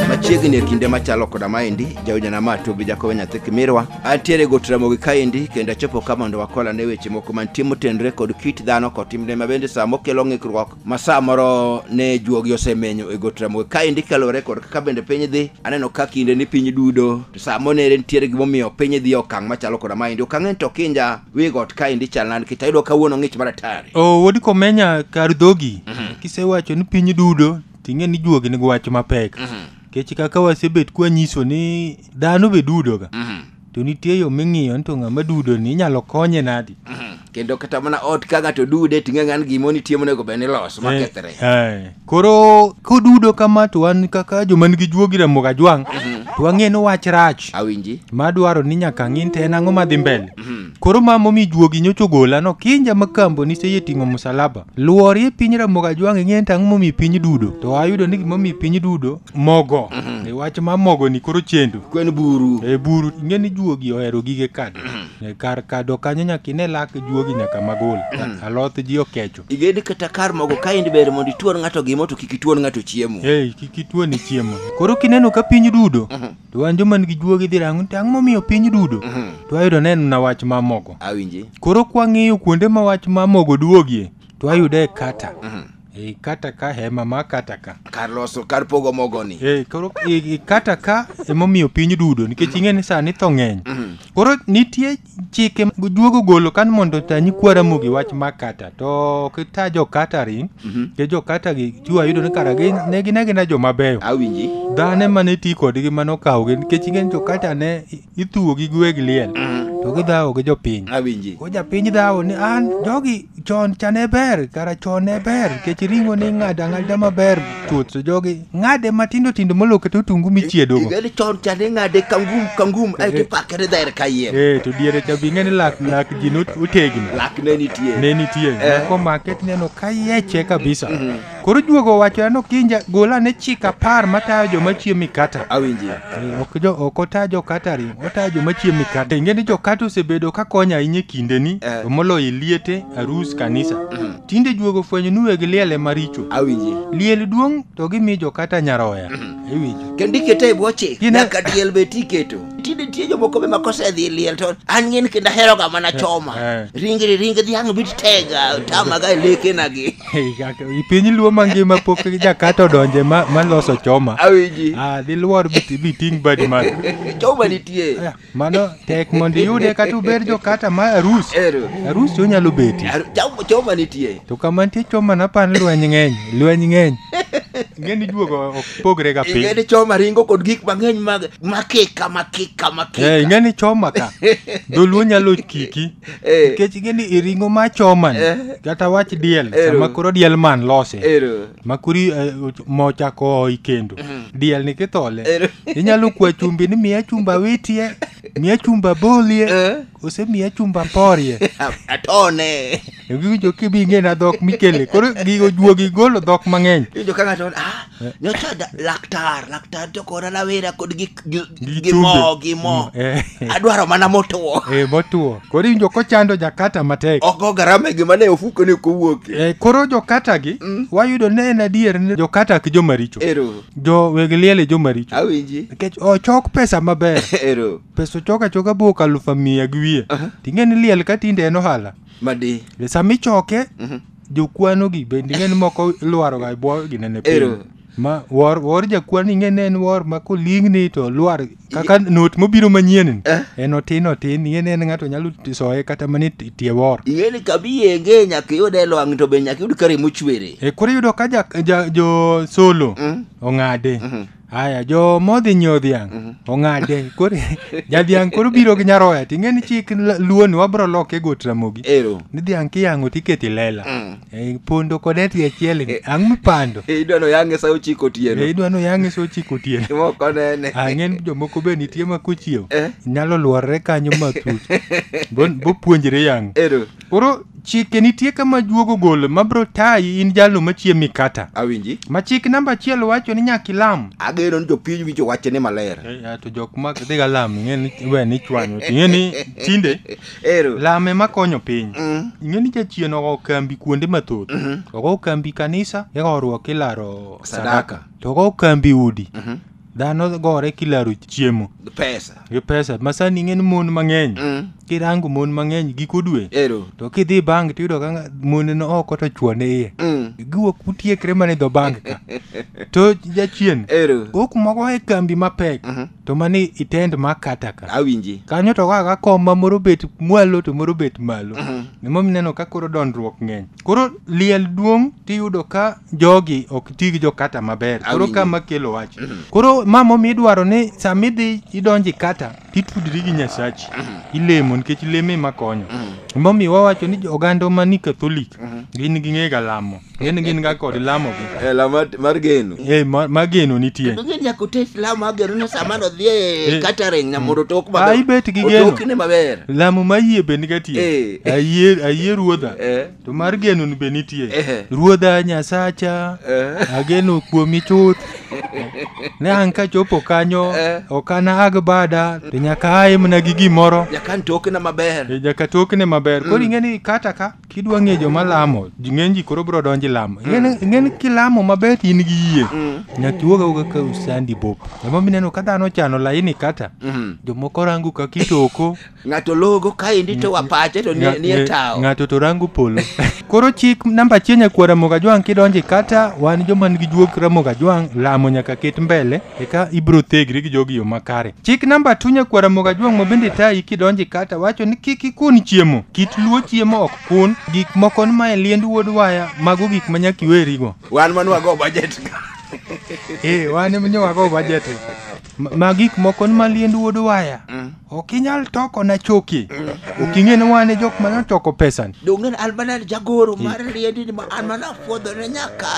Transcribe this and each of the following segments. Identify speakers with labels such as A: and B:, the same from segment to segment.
A: machiegni e kinde machalo koda maendi jaojanama ma tobi jakowe nyathi kimirwa antiere got ramogi kaendi kendo achopo ka mondo wakola ne weche moko mantie motenre kod kit dhano kod timne ma bende sama okelo ng'ikruok ma sa moro ne juogi osemenyo e got ramogi kaendi kaluwore kod kaka bende piny dhi aneno ka kinde ni piny dudo to sa monere nitiere gimomiyo piny dhi e okang' machalo koda maendi okang' en to kinja wi got kaendi chal nadi kech ayudo kawuono ng'ich maratari o wuod komenya kar dhogi kisewacho ni piny dudo ting'e ni juogi nigi wach mapek kech kaka wasebet kwanyiso ni dhano be dudoga to nitie yo ming'iyo ni to ng'ama dudo ni inyalo konye nadi kendo kata mana ot ka ng'ato dude ting'e ng'an gimoni tie monego bed ni los makethre Eh, eh. Koro kodudo kama to wan kaka joma nigi juogi Ramogi Ajwang' to wang'e ni wach rach Awinji. madwaro ni nyaka ng'in to en ang'o madhi mbele. Koro ma momi juogi nyocha ogola no kinja ma kambo ni seye ting'o musalaba. Luori e piny Ramogi Ajwang' ing'e ni ang'o momi piny dudo. To ayudo ni gimomi piny dudo mogo. E wach ma mogo ni koro chendo. Kwen buru. E buru ing'e ni juogi ohero gige kado. E kar kado kanyo nyaka ine lak juogi nyaka magul. Aloth ji okecho. Iged kata kar mogo ka in ber mondo ituon ng'ato gimo to kik ituon ng'ato chiemo. Hey, kik ituon chiemo. Koro kineno ka piny dudo, mhm. to an joma nigi juogi dhi rango to ang'o momiyo piny dudo? Mhm. To ayudo neno na wach ma mogo. Awinji. Koro kwang'iyo kuonde ma wach ma mogo duogie, to ayude kata. Mhm. E, kata ka hema ma kata ka kar loso kar pogo mogo ni e, koro e, e kata ka emomiyo piny dudo nikech ing'e ni sani tho ng'eny koro nitie chike juogo golo kan mondo ta nyikwa Ramogi wach ma kata to kita jo catering ke jo kata gi tiwa yudo ni kara gi ne gin agina jo mabeyo awinji dhane mane ti kodgi mane okawo gi nikech ingen jo kata ne i- ithuwo gi gweg liel to gidhawo gi jopiny awinji ko japiny dhawo ni an jogi chon cha ne ber kara chon ne ber kech ring'o ni ng'ado ang'ada maber chuth to jogi ng'ade matindo tindo molo kata otungu michiedogo Igani chon cha ne ng'ade kangum kangum aeto ipakere dher kayiem. ee to diere cha bing'e ni lak lak ji not- otegno Lak ne nitie. ne nitie Eh. mako make tineno kayeche kabisa Koro juogo wacho ano kinja gola ne chika par matayo joma chiemo mikata. Awinji. Eh, Ok jo ok ota jo katari, ota jo machiemo mikate. Ingeni jo kata osebedo ka konyo ahinya e kindeni, Eh. to moloyo e liete, arus, kanisa. Tinde juogo fwenyo ni weg liel e maricho. Awinji. Liel duong' to gimi jo kata nyaroya. Iwinjo. Kendo ikete e bwo chik. Gine- Nyaka diel be tiketo. Tinde nitie jomoko be makosedhi e liel to an ng'in kendo aheroga mana choma. eh. Ringri ring dhiang' bit tega tamaga e lekenagi. I piny luo mangima pok jakato donje ma, ma loso choma. Awinji. Ah, diluor biti- biting' badi malo. Choma nitie. Ah, Mano tek mondo iyude kata ubed jokata ma arus. Ero. Arus onyalo beti. Ar- chom- Choma nitie. To kama nitie choma napan lweny ng'eny, lweny ng'eny. Ng'eni juogo ok pogre ga piny. Ingeni choma ringo kod gik mang'eny mag makika makika makika. Eh, ing'eni choma ka. Dholuo nyalo kiki. Eh, nikech ing'eni i ring'o ma choman Eh. kata wach diel Ero. sama koro diel man lose ero. ma kuri eh, och- mo ochako oi kendo diel ni kithole Ero. inyalo kwa chumbi ni miya chumba witie miya chumba bolie Eh. ose miya chumba porie Atone. giwinjo kibing'ena dhok mikele koro gigo juogi golo dhok mang'eny Iwinjo ka ng'ato, ah, nyocha da- laktar laktar to kora rawera kod gi gi- Gi gi mo chumbi. gi mo Eh, adwaro mana motuo eh, motuo koro iwinjo kochando jakata matek oko garama e gima ne ofuko ni kowuoke Eh, koro jokata gi wayudo ne en adier ni jokata ki jomaricho ero jo weg liel e jomaricho awinji nikech ochok pesa maber ero pesa ochok achoka buok alufu miya gi wiye ting'e ni liel ka tinde en ohala madi E sama ichoke jokwano gi bende ing'e ni moko lwaro ga bwo ginene piny Ero. ma wor wor jakwano ing'e ni en wor ma koling'ni to lwar kaka not mobiro manyien ni, Eh. en otin otin ing'e ni en ng'ato nyalo ti- soye kata mana e ti- tie wor ing'e ni kabi yenge nyaka iyud e lwang' to be nyaka iyud kare mochwere e koro iyudo ka ja, ja, jo solo Mm. ong'ade Mhm. Aya, jo modhi nyiewo dhiang' Mhm. ong'ade. Koro jadhiang' koro biro gi nyaroya to ing'e ni chik la- luo ni wabro loke got ramogi. Ero. Ni dhiang' kiyang'o to iketo i lela. Mm. E, pondo kod eti achiel ni. Ang' mipando. E, idwa no yange sa ochiko E, otieno. idwa ni oyang'e sa ochiko otieno. Moko nene. Ang'en jomoko be nitie ma kochiew. Eh. Nyalo luorre kanyo matut. Bo- Bopuonjre yang'o. Ero. Koro chike nitie kama juogo gol ma bro tayi in jalno machie mikata. Awinji. Ma chik namba achiel wacho ni nyaka ilam. Ageno ni jopiny winjo wache ni maler. Eh, to jok ma dhi ga lam ing'e ni we ni chwanyo. Ing'e ni tinde Ero. lame ma konyo piny. Mm. Ing'e ni jachien ogo kambi kuonde mathoth. Ogo kambi kanisa, igo ruok ilaro Sadaka. To ogo kambi udi. dhano gore kilaro chiemo Gi pesa gi pesa masani ing'e ni mon mang'eny Mm. kirango mon mang'eny giko dwe ero to kidhi bank tiyudo ka nga- mon no oko to chuone iye Mm. giwuok utiekre mana e dho bank ka to jachien ero ok moko e kambi mapek Mhm. to mani itend makata ka awinji kanyo to kaka kom ma moro bet mwalo to moro bet malo Mhm. nemo mineno ka koro dondruok ng'eny Koro liel duong' tiyudo ka jogi ok ti gi jokata maber. Koro Awinji. kama kelo wach. Koro ma momiyo idwaro ni sama idhi idonjo e kata titudri gi Nyasachi. Ilemo nikech lemo ema konyo. Momiyo wawacho ni jo- oganda ma ni Katholik gin gi ng'ega lamo. Gin gin ga kod lamo gi. Eh, la mar- mar geno Eh, ma- mageno nitie. Kendo ng'e ni nyaka ote Islam agero ni sama nodhi e Eh. catering na mondo otok Ah, ibet gi geno. Otokne maber. Lamo ma yie bende gatiyo. Eh. ayie ayie ruodha Eh. to mar genoni be nitie Eh. ruodha nyasacha Eh. ageno kuomi chuth ne an kachopo kanyo Eh. ok anag bada to nyaka aimna gi gimoro Nyakan tokna maber. E, nyaka tokne maber koro ing'e ni kata ka kidwa ng'e joma lamo ji- ng'eny ji koro biro donjo lamo ing'e ni kilamo maber in gi yie nyaka iwuog awuoga ka usandi bop emomineno ka dhano chano laini kata Mhm. jomoko rango ka kitoko ng'ato logo kaendi to wapache to nie nie tawo ng'ato to rango polo koro chik namba achiel nyakwar ramogi ajwang' kidonje kata wan joma nigi juog ramogi ajwang' lamo nyaka ket mbele eka ibiro thegri gi jogi yo makare chik namba tu nyakwar ramogi ajwang' ma bende tayi kidonje kata wacho ni kik ikun chiemo kit luo chiemo ok kun gik moko ni mae liend wuod waya mago gik ma nyaka iwerigo wan manwago budget eh wan ema nyowago budget Ma- ma gik moko ni maliend wuod waya ok inyal toko na choki ok ing'e ni wane jok mana toko pesani donge an mana jagoro mar liendi ni ma an mana fwodhone nyaka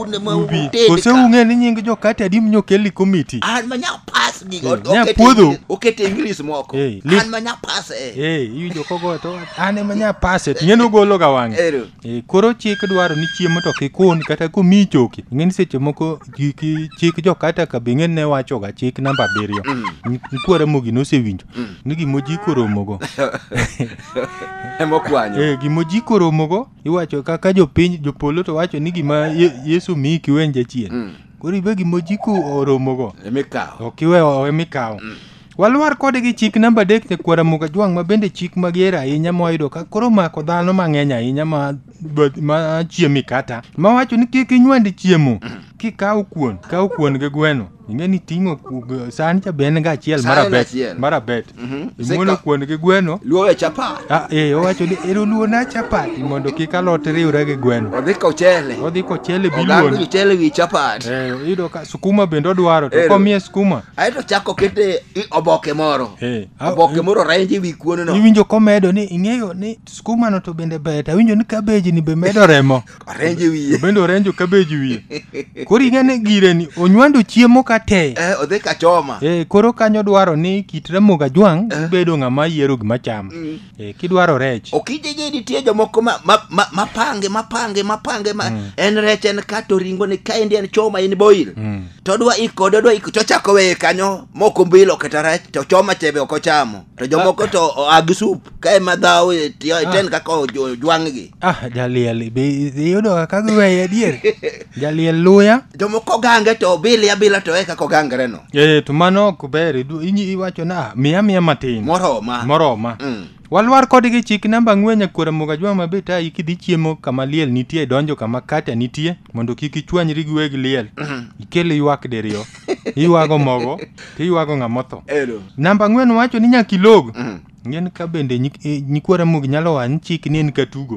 A: une ma ubi uted kose ka. ung'e ni nying jokate adi mnyokeli komiti an ma nya pas gi Eh, nya puodho. okete inglis moko Eh, li- an ma nya pas eh. ee iwinjo kogo to an ema nya paset ing'e ni ogologa wang'e Ero. Eh, koro chik dwaro ni chiemo to kikun kata komiyi choki ing'e ni seche moko ki- ki- chik jokata ka be ng'eny ne wachoga chik namba abiriyo Ni- nikwara mogi nosewinjo ni gimoji koromogo emokwanyo Eh, gimoji koromogo iwacho kaka jopiny jopolo to wacho ni gima Ye- yesu miyi kiwenja chien koro ibe gimoji koromogo emikawo ok iwe owe mikawo Walwar kode gi chik namba adek nyakwar Ramogi Ajwang' ma bende chik mager ahinya mwayudo ka koro omako dhano mang'eny ahinya ma, ma chiemi kata ma wacho ni kik inywand chiemo kikawo kuon kaw kuon gi gweno ing'e ni ting'o ku- g- san cha be en ga achiel San en marabet achiel. marabet Mhm. imuolo Sika- kuon gi gweno Luowe chapa. ah, eh, owacho ni ero luona chapati mondo kik alot riwre gi gweno Odhi kochele. odhi kochele Oganda biluon kochele wi chapat. Eh, iyudo ka sukuma bende odwaro to Ero. komiye sukuma ae to chako kete i oboke moro Eh, ah, oboke eh. moro renje ewi kuoneno iwinjo komedo ni ing'eyo ni skumano to bende ber to awinjo ni kabeji ni be medo remo orenje wiye bende orenjo kabeji wiye koro ing'e ni gire ni onywando chiemo ka te Eh, odhi kachoma Eh, koro kanyo dwaro ni kit ramoga jwang' bedo ng'ama yiero gima chamo Eh, kidwaro rech okijiji nitie jomoko ma- ma- ma- mapange mapange mapange ma en rech en kato ringo ni kaendi en choma in boil to odwa ikode odwa ik- to ochako weye kanyo moko mbilo kata rech to choma chebe ok ochamo to jomoko to oa gi sup ka ema dhaw e tiyo- iten kaka ojwang'gi ah jaliel be iyudo kaka giweye adier jaliel luya jomoko gange to obili abila to eka kogangre no Eh, to mano ok ber idu- inyi- iwacho na "Ah, miya miya matin moroma moroma Mm. walwar kodgi chik namba ng'wenya kuora moga jwa mabe ta ikidhi chiemo kama liel nitie donjo kama kata nitie mondo kik ichwanyri gi weg liel ikel ywak diriyo iywago mogo to iywago ng'amotho Ero. namba ng'wen wacho ni nyaka ilog ng'en ka bende nyik- eh, nyikwa ramogi nyalo wany chik ni en katugo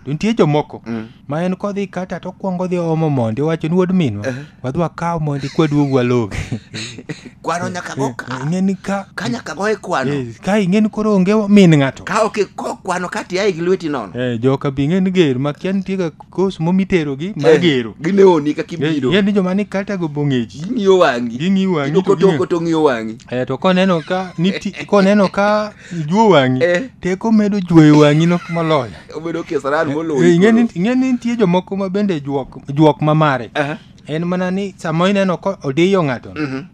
A: to nitie jomoko ma en kodhi kata to kwongo dhi omo mondi wacho ni wuod minwa wadhi wakaw mondi kwaduog walogi kwano nyaka go ka ng'eni ka ka nyaka go e kwano eh, ka ing'eni koro onge min ng'ato ka ok iko kwano ka tiaye gi lweti nono Eh, joka bi ng'eni ger makia nitie ga kos mo miterogi mar gero ginewoni kaka ibiro yeni joma ni kata go bong'eji ging'iyo wang'i ging'iyo wang'i to ging'iyo- idokotoko to ng'iyo wang'i Eh, to koneno ka niti, koneno ka ijuo wang'i Eh. teko medo juoyo wang'i no moloyo obedo kesaran Eh, ing'e ni- moloyi ing'e ni nitie jomoko ma bende juok, juok mamare Aha. en mana ni sama ineno ko odiyo ng'ato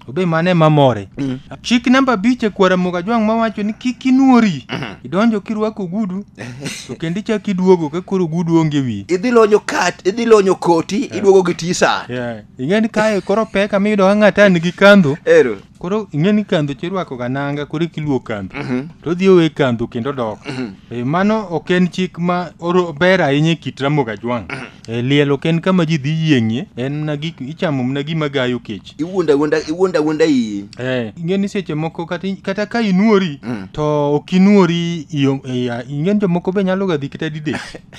A: obe mane mamore chik namba abich e kwara mogajwang' mawacho ni kik inuori idonjo kirwako ogudu to kendo ichak iduogo ka koro ogudu onge wi idhi lonyo kat idhi lonyo koti iduogo gi tisa Yeah. ing'e ni kae koro pek ama iyudo ka ng'ato an gi kandho ero koro ing'e ni kandho to irwako ga nanga koro ikiluo kandho to odhi owe kandho kendo dok Eh, mano ok en chik ma oro- ber ahinya e kit ramoga jwang' E, liel ok en kama ji dhi yieng'ie, en mana gik ichamo mana gima gayo kech. iwuonda wuonda iwuonda wuonda iyi Eh, ing'e ni seche moko kata, kata ka inuori Mm. to ok inuori iyo- iya- ing'e ni jomoko be nyalo ga dhi kata didek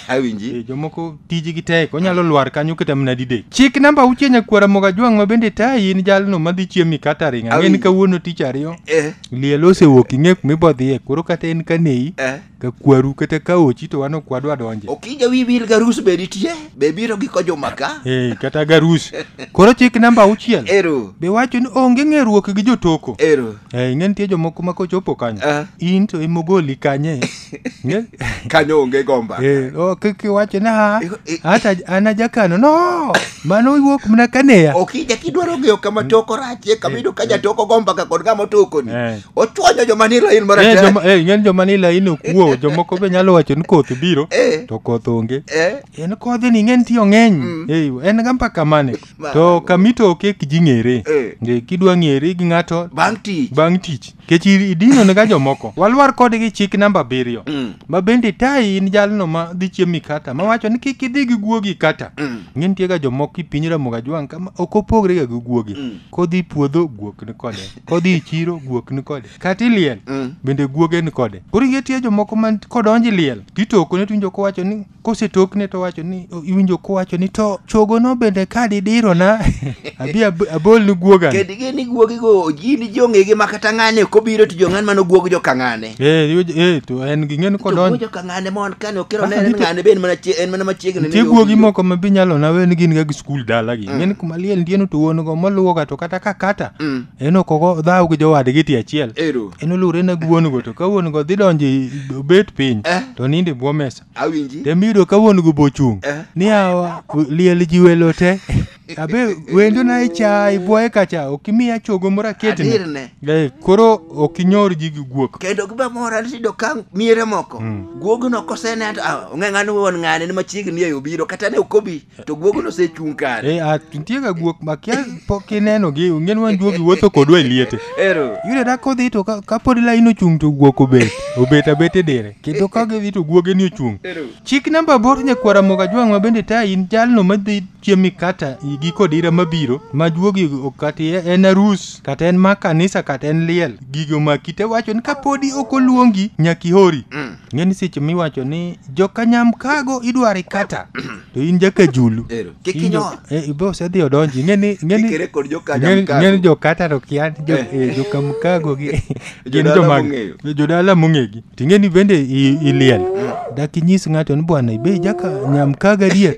A: awinji Eh, jomoko tijgi tek onyalo lwar kanyo kata mana didek chik namba auchie nyakwara moga jwang' ma bende tayi in jalno madhi chiemi kata ring ang'e ni Awi. kawuono tich ariyo eh liel osewuok ing'e kumibodhiye koro kata en kaneyi eh ka kwaru kata ka ochi to wan ok wadwa donje okija wi wil garus be nitie be biro gi kojuma ka hey, kata garus koro chik namba auchiel ero be wacho ni onge ng'eruok gi jotoko ero hey, ing'e nitie jomoko ma kochopo kanyo Ah. in to imogoli kanye Ing'e? kanyo onge gomba Eh, o, ki- kiwacho ni ha Eh, eh. hata an ajakano no mano iwuok mana kaneya okija kidwaro ng'eyo kama toko rachie kama iyudo ka jatoko gomba ka kod ng'ama otokoni Eh. ochwanyo joma ni lain Eh, maratego joma- eh, ng'eny joma ni laini okuo jomoko be nyalo wacho ni koth biro Eh. to koth onge Eh, en kodhi ni ng'eny tiyo ng'eny Eh, en ga mpaka mane Ma- to kamito oke kiji ng'ere Eh. Eh, kidwa ng'ere gi ng'ato bang' tich bang' tich kech idino ne ga jomoko walwar kodgi chik namba abiriyo Mm. ma bende tayi in jalno ma dhi chiemo ikata ma wacho ni kik idhi gi guogi kata Mm. ng'e nitie ga jomoko i piny ramoga jwang' kama ok opogre ga gi guogi Mm. kodhi puodho guok ni kode kodhi e chiro guok ni kode kata iliel Mm. bende guoge ni kode koro ingetie jomoko man kodonji liel titokone tiwinjo kowacho ni kosetokne to wacho ni o- iwinjo kowacho ni to chogono bende ka didirona abi ab- abol ni guogani Ked gini guogi go, gini jong'egi ma kata ng'ane kobiro to jong'an mano guog jo kang'ane. Eh, iwe- eh, to en ging'eni To kodonjo wuojo ka ng'ane mon kane okero ne en ng'ane be en mana chie- en mana machiegni nitie guogi moko ma bi nyalo nawe ni gin ga gi skul dalagi ng'eni kuma liel ndieno to wuon go moluwoga to kata ka kata Mm. en ok ogo dhaw gi jowadgi ti achiel Ero. en oluwre na gi wuon go to ka wuon go dhi donjo i- obet piny Eh. to nindo e bwo mesa Awinji. tembiyudo ka wuon go bochung' Eh. ni awa liel ji welo te abe wendo na icha ibwaye kacha ok imiya chogo moro aketni Adier ne. Eh, koro ok inyor ji gi guok kendo gibe mora ni tiyudo ka miere moko guogno koseneno to ah, ong'e ng'ani wuon ng'ane ni machiegni eyo biro kata ne ok obi to guogno osechung' kare Eh, a- nitie ga guok makia pok ineno gi ong'en wan duogi wuotho kodwa e liete ero yudo da kodhi to ka- kapod lain ochung' to guok obet obet abet e dire kendo ka gidhi to guoge ni ochung' Ero. chik namba bor nyakwara moga jwang' ma bende ta in jalno madhi chiemb mikata igi kod ira mabiro ma juogi kati en arus kata en ma kanisa kata en liel gigo ma kite wacho ni kapodi ok oluongi nyaka ihori mm. ng'e ni seche miwacho ni jokanyam kago idwaro ikata to in jaka julu eh, ibe osedhi odonji ng'e ni jokata to kia eh. eh, jokamkago gin jodala mong'egi Ting'eni bende i- iliel. Dak inyis ng'ato ni bwana ibe jaka nyam kaga dier.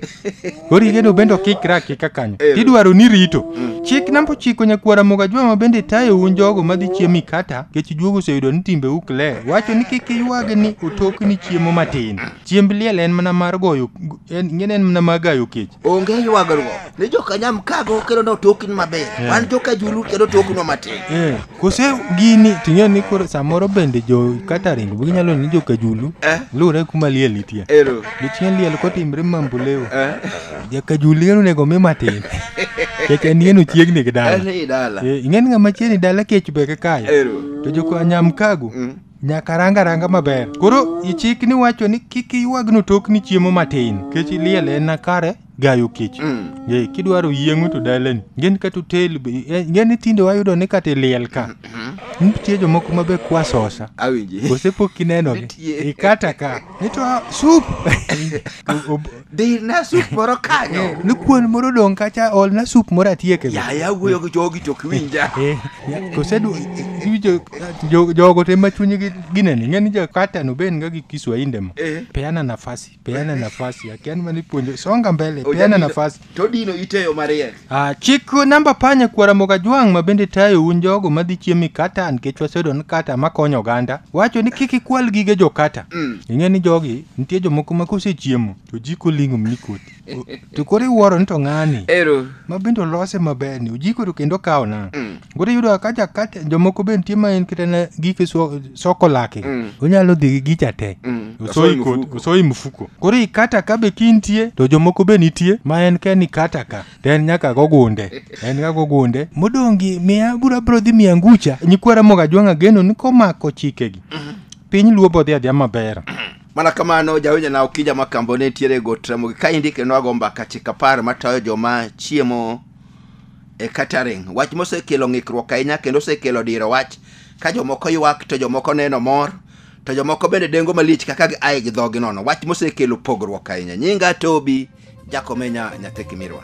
A: Koro igeno bende okikra akika kanyo. Tidwaro ni rito. Chik namba ochiko nyakwara moga jwama bende tayo un jogo madhi chiemo ikata kech juogo oseyudo ni timbe ukle. Wacho ni kik iywag ni otok ni chiemo matin. Chiemb liel en mana mar goyo en ngene en mana mar gayo kech. onge ywagruok ni jokanyam kago kendo notokni maber Yeah. wan jokajulu kendo toknwa matin Eh. kose gini ting'e ni koro samoro bende jo catering be ginyalo ni jokajulu Eh. luwre kuma liel nitie Ero. gichien liel kotimre mambulewo Eh. jakajulu yeno onego mi matin kech en yeno chiegni gi dala En i dala. Eh, ing'eni ng'ama chiegni dala kech be kakayo Ero. to jokanyam kago Mm. nyaka ranga ranga maber koro ichikni wacho ni kik iywagno tokni chiemo matin kech liel en na kare gayo kech Mm. Ee, kidwaro yieng'o to dalani ngeni kata otel be- eh, ngeni tinde wayudo ni kata iliel ka nitie jomoko mabe kwasosa Awinji. osepok kinenogi Nitie. ikata ka nito sup Dirna sup moro kanyo. ni kuon moro odong' kacha olna sup moro atieke Yaya wuoyo gi jogi to ok winja. kosedu iwinjo jo- jogo te ma chunygi ginene ng'eni jakatano be en ga gi kiswahinde mo Eh. peana nafasi peana nafasi yake yani manipuonjo songa mbele peana Ojadino- nafasi todino iteyo mariek Ah, chik namba panye kuara mogajwang' ma bende tayo un jogo madhi chiemo e kata nikech wasedo ni kata makonyo oganda wacho ni kik ikwal gige jokata Mm. ing'e ni jogi nitie jomoko ma kosechiemo to jiko ling'o mni koti O- to koro iwuoro ni to ng'ani ero ma bende olose maber ni ojiko to kendo kawo na Mm. Koro iyudo ka jakate jomoko be nitie ma en kata na gike so- soko lake Mm. onyalo dhi gi gicha te Mm. Osoyi Osoyi kod- mfuko. osoyi mfuko koro ikata ka be kintie to jomoko be nitie ma en ke ni kata ka to en nyaka gogunde en ga gogunde modongi miya bura bro dhi miya ngucha nyikwara moga jwang'a geno ni komako chikegi piny luo bodhi adhiya maber mana kamano jawinjo na okija makambo ne nitiere go tramogi kaendi kendo ago mbaka chik apar matayo joma chiemo e catering wach mosekelo ng'ikruok ahinya kendo osekelo diro wach ka jomoko ywak to jomoko neno mor to jomoko bende dengo malich kaka gi aye gi dhogi nono wach mosekelo pogruok ahinya nyinga tobi jakomenya nyathi kimirwa